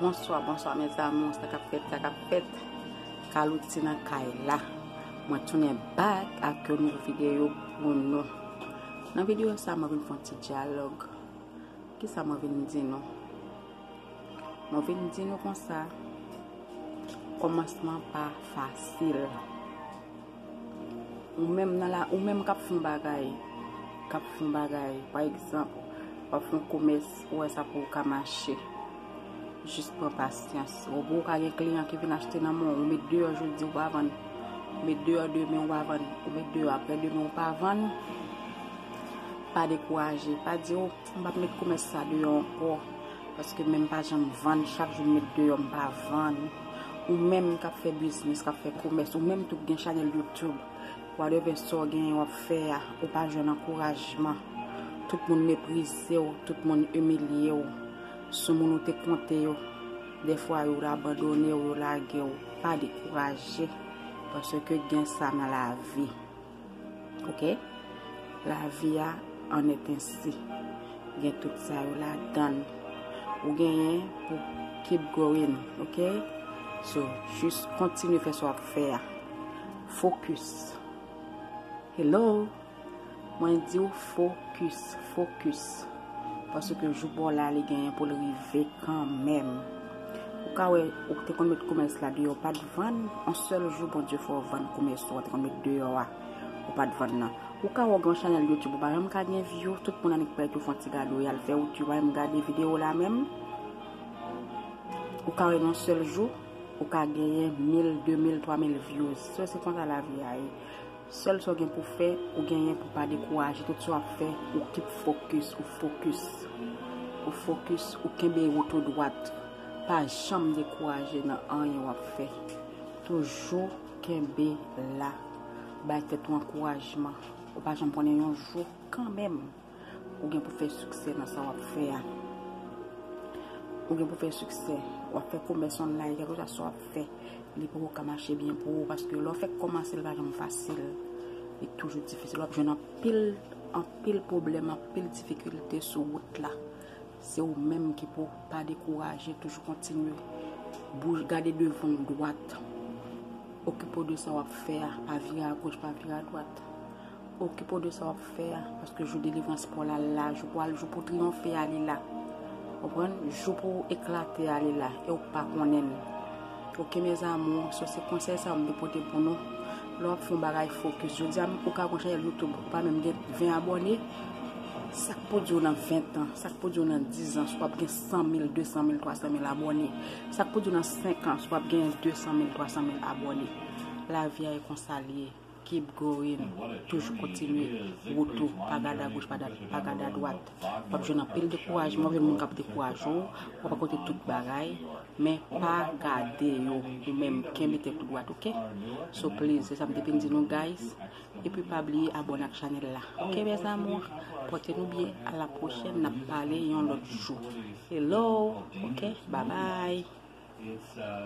Bonswa bonswa mes amours sa kap fèt sa kap fèt Carlout se nan kay la mwen tounen back ak yon nouvo video pou nou nan video sa mwen vin fon ti dialog ki sa mwen vin di nou mwen vin di nou konsa komansman pa fasil Ou menm nan la, ou menm kap fon bagay, kap fon bagay, pa egzanp, wap fon komès, ou wè sa pouw ka mache, jis pran pasyans. Ou wè ou ka gen kliyan ki vin achte nan men w, ou met deyò jodi ou pa vann, ou met deyò demen ou pa vann, ou met deyò aprè demen ou pa vann, pa dekouraje, pa di oh. M pap met komès sa deyò ankò paske menm pa janm vann chak jou m met deyò m pa vann ou menm kap fè biznis kap fè komès ou menm tou k gen chanèl YouTube wadèvè sa w genyen wap fè a ou pa jwenn ankourajman tout moun meprize w tout moun imilye w sou moun ou te konte yo dèfwa yo abandone w yo lage w pa dekouraje paske gen sa nan lavi. Ok la vi a an et ensi gen tout sa yo la dan ou genyen pou keep going ok so jis kontinye fè sa wap fè a focus hello mwen di ou focus focus paske jou pou w la li genyen pou l rive kan menm. Ou ka wè ou te konn met komès la deyò ou pat vann, on sèl jou Bondye fè w vann komès ou a te konn met deyò a ou pat vann nan. Ou ka wè ou gen yon chanèl youtube ou pa janm ka gen view, tout moun annik pèdi w fon ti gade ou yal fè ou tu wèm gade video la menm. Ou ka wè yon sèl jou ou ka genyen 1000, 2000, 3000 views. Sè se konsa lavi a ye. Sèl sa w gen pou fè, ou genyen pou pa dekouraje tout sa w ap fè, ou keep focus, ou fokis, ou fokis, ou kenbe woto dwat, pa janm dekouraje nan anyen w ap fè, toujou kenbe la, bay tèt ou ankourajman, ou pa janm konnen yon jou kanmenm. Ou gen pou fè siksè nan sa wap fè a. Ou gen pou fè siksè. Wap fè komès online, kèlke swa sa wap fè, li poko ka mache byen pou ou paske lè w fèk kòmanse li pa janm fasil. Li toujou difisil. Wap jwenn anpil, anpil pwoblèm, anpil difikilte sou wout la. Se ou menm ki pou pa dekouraje, toujou kontinye. Bouj, gade devan ou dwat. Okipe w de sa wap fè a, pa vire a goch, pa vire a dwat. Okipe w de sa wap fè a paske jou delivrans paw la la jou pou al jou pou triyonfe a li la konprann jou pou eklate a li la e ou pa konnen l ok mes amours so se konsèy sa yo m te pote pou nou lè wap fè yon bagay fokis jodi a ou ka gon chanèl youtube ou pa menm gen 20 abòne sak pou diw nan 20 ans sak pou diw nan 10 ans wap gen 100 mil 200 mil 300 mil abòne sak pou diw nan 5 ans wap gen 200 mil 300 mil abòne lavi a e konsa l ye. Keep going toujou kontinye wout ou pa gade a goch pa gade a dwat wap jwenn anpil dekourajman wap jwenn moun kap dekouraje w wap rakonte tout bagay men pa gade yo ou menm kenbe tèt ou dwat ok so please se sa m te vin di nou guys epi pa bliye abone ak chanèl la ok mes amours pote nou byen a la pwochèn nap pale yon lòt jou hello ok babay.